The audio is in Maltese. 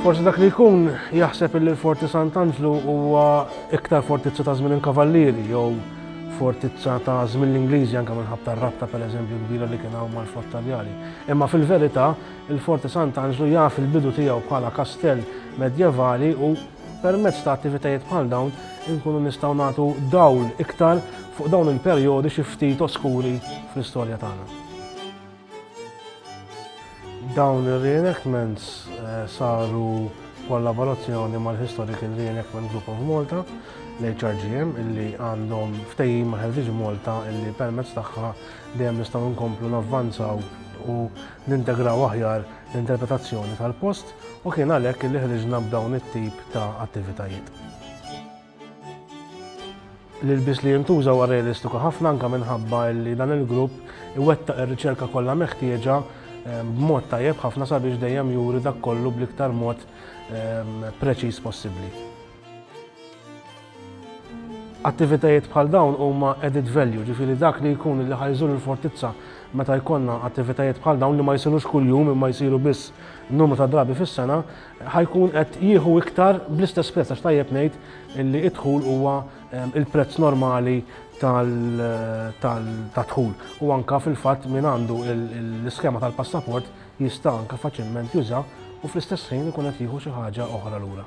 Forsi dak li jkun jaħseb li l-Forti Sant'Anġlu huwa iktar fortizza ta' żmien il-Kavallieri jew fortizza ta' żmien l-Ingliżi anke minħabba tar-rabta pereżempju kbira li kien hawn mal-Fort Taljani. Imma fil-verità, il-Forti Sant'Anġlu jaf il-bidu tiegħu bħala kastell medjevali u Permezz ta' attivitajiet bħal dawn inkunu nistgħu nagħtu dawl iktar fuq dawn il-perjodi xi ftit oskuri fl-istorja tagħna. Dawn ir-reenactments saru b'kollaborazzjoni mal-Historical Reenactment Group of Malta, l-HRGM, illi għandhom ftehim ma' Heritage Malta illi permezz tagħha dejjem nistgħu nkomplu navvanzaw u nintegraw aħjar l-interpretazzjoni tal-post u kien għalhekk li ħriġna b'dawn it-tip ta' attivitajiet. L-ilbies li jintuża huwa realistiku ħafna anke minħabba li dan il-grupp iwettaq ir-riċerka kollha meħtieġa b'mod tajjeb ħafna sabiex dejjem juri dak kollu bl-iktar mod preċiż possibbli. Attivitajiet bħal dawn huma added value, ġifieri dak li jkun li ħajżur il-fortizza meta jkollna attivitajiet bħal dawn li ma jsirux kuljum imma jsiru biss numru ta' drabi fis-sena, ħajkun qed jieħu iktar bl-istess prezz għax tajjeb ngħid li d-dħul huwa ehm, il-prezz normali tad-dħul u anka fil-fatt min għandu l-iskema tal-passaport jista' anka faċilment juża u fl-istess ħin ikun qed jieħu xi ħaġa oħra lura.